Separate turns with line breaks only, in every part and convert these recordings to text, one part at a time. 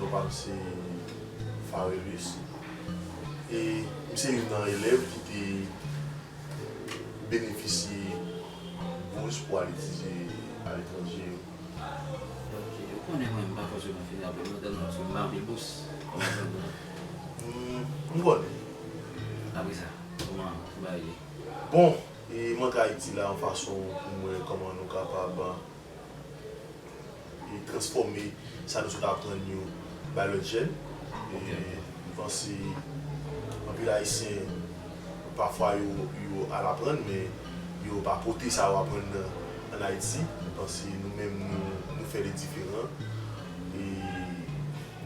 Non pa m se Farelus e m se youn nan elèv ki te benefisye bous pou al etidye aletranje yo. Ok,
ou konnen mwen m pa fòse mwen fini apre nou tèlman paske m pa anpil bous. Kòman sa pou mwen?
M konnen.
Apre sa, kòman bagay yo ye? Bon,
e m antre Ayiti la yon fason pou m wè kòman nou kapab. e transfòme sa nou sot aprann yo bay lòt jèn e m panse anpil ayisyen pafwa yo yo al aprann men yo pa pote sa yo aprann nan an ayiti m panse nou menm nou nou fè li diferan e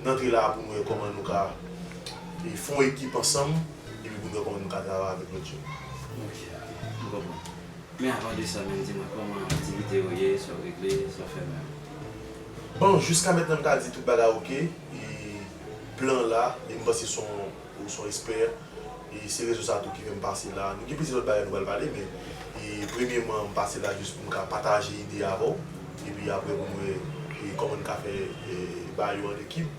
n antre la pou n wè kòman nou ka e fon ekip ansanm epi pou n wè kòman nou ka travay avèk lòt jèn. Ok, m
konprann. Men avan de sa menm di mwen kòman aktivite yo ye, sa w regle, sa w fè menm. Bon
jiska mentnan m ka di tout bagay ok e plan an la e m panse son ou son espè e se rezon sa tou ki fè m pase la. Nou gen plizyè lòt bagay nou pral pale men e premyeman m pase la jis pou m ka pataje ide avè w epi aprè pou n wè kòman n ka fè ba yo an ekip.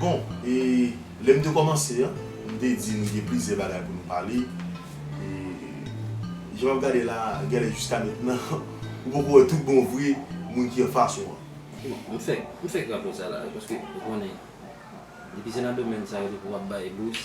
Bon, e lè m te kòmanse an, m te di nou gen plizyè bagay pou nou pale. E jan m ap gade la a, genlè jiska mentnan, ou poko wè tout bon vre moun ki anfas ou an. M fè,
m fè krapo sa la wi, paske ou konnen, depi se nan domèn sa yo depi w ap bay bous.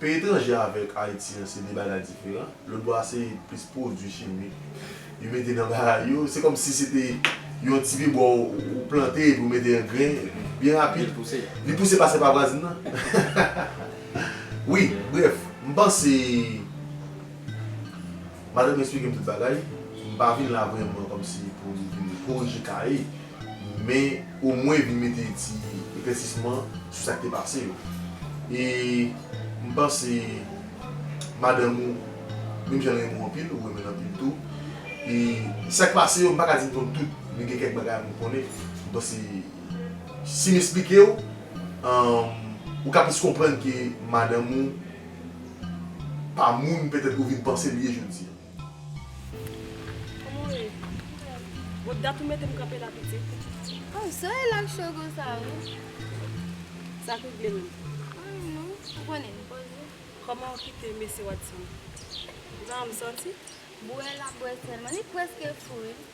Peyi etranje avèk Ayiti an se 2 bagay diferan. Lòt bò a se plis pwodui chimik yo mete nan bagay yo. Se kòm si se te yon ti pibwa ou plante epi ou mete angren, epi byen rapid, li pouse pase pa vwazin nan. Wi, brèf, m panse. Madam m esplike m tout bagay, m pa vin la vrèman kòmsi pou m vin korije kaye, men omwen vin mete ti eklèsisman sou sa k te pase yo. E m panse madanm ou menm jan l renmen w anpil, ou renmen l anpil tou. E sa k pase yo m pa ka di m konn tout, men gen kèk bagay m konnen. M panse si m esplike w, ou ka plis konprann ke madanm ou. pa moun petèt ou vin panse li ye jodi a.
Kòman w ye? Bon dat ou mete m kanpe la pitit? Oh so e la k
cho konsa wi?
Sa k regle menm? Anyen non,
ou konnen m poze. Kòman w
kite mesye Watson? Zanman m santi? Bwè l ap bwè
sèlman, li prèske fou wi.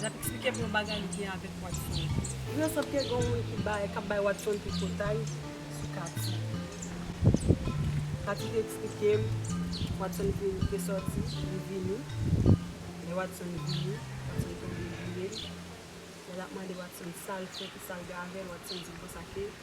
L ap eksplike pou yon bagay li gen avèk Watson. Li nan sant kè gen yon moun ki bay, k ap bay Watson tripotay sou Kati. Kati te eksplike m, Watson vin, li te sòti, li vini. Lè Watson vini, Watson tonbe joure l. Lè l ap mande Watson sa l fè, ki sa l gen avè l, Watson di l konsa ke.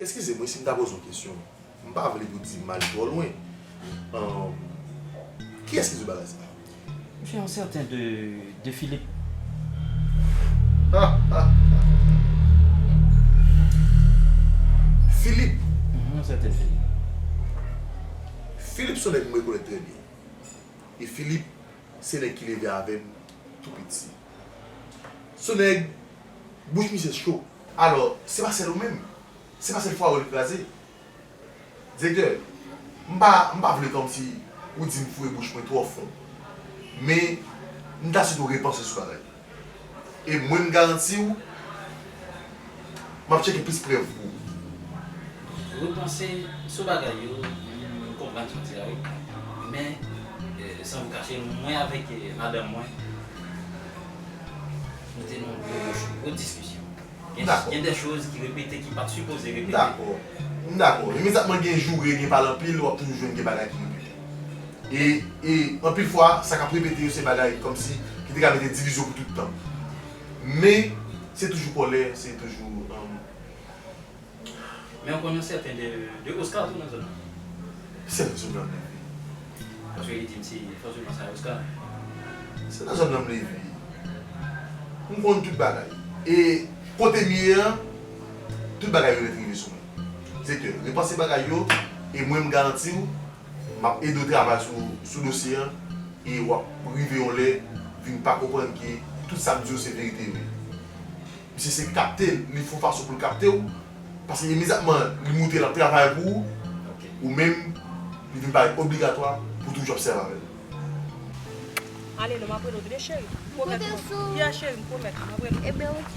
Eskize mwen si m ta
poze yon kesyon. M pa vle pou di mal twò lwen. Kiyès ki di w bagay sa? Msye yon
sèten de de Philippe.
Philippe? Yon sèten Philippe. Philippe se yon nèg m rekonèt trè byen. E Philippe se nèg ki leve avè m tou piti. Se yon nèg bouch misye cho. Alò, se pa sèl ou menm? Se pa sèl fwa ou li kraze? Direktè, M pa, m pa vle kòmsi ou di m fouye bouch mwen twò fon. Men, m ta swete w repanse sou bagay yo. E mwen m garanti w, m ap tcheke plis prèv pou ou.
Repanse sou bagay yo, m konprann sa w di a wi. Men, san m kache w, mwen avèk madanm mwen. Nou te nan yon gwo mòch, yon gwo diskisyon. Gen dè choz ki repete ki pat sipoze repete. M dakò. M dakò.
Imediatman gen joure, gen pale anpil, wap toujou jwenn gen bagay ki repete. E, e, anpil fwa, sa kap repete yo se bagay kòmsi ki te ka mete divizyon pou tout tan. Men, se toujou kòlè, se toujou, humm.
Men ou konn yon sèten de de Oscar tou
nan zòn nan.
Se nan
zòn nan m leve. Paske li di m se fòtiman sa Oscar. Se nan zòn nan m leve. M konn tout bagay. E kote m ye an, tout bagay yo ret rive sou mwen. Direktè, repanse bagay yo e mwen m garanti w m ap ede w travay sou sou dosye an e w ap rive yon lè vin pa konprann ke tout sa m di w se verite yo ye. Misye se kapte li fon fason poul kapte w paske imediatman li moutre lap travay pou ou ou menm li vin parèt obligatwa pou toujou ap sèvi avèl. Ale non map
rele w tande cheri m pwomèt ou map yeah cheri m pwomèt map rele w.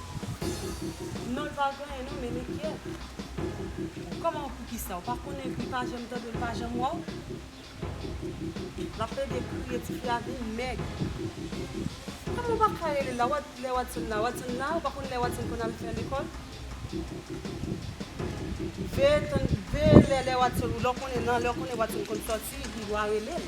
Non l pa genyen non men li kyè. Kòman poukisa ou pa konnen li pa janm tande w li pa janm wè w. L ap plede kriye ti fi a vin mèg. Kòman ou pa ka rele l la lè Wadson la Wadson la ou pa konn lè Wadson konn al fè lekòl. Veye tann veye lè lè Wadson lè w konnen nan lè w konnen Wadson konn sòti li dwa rele l.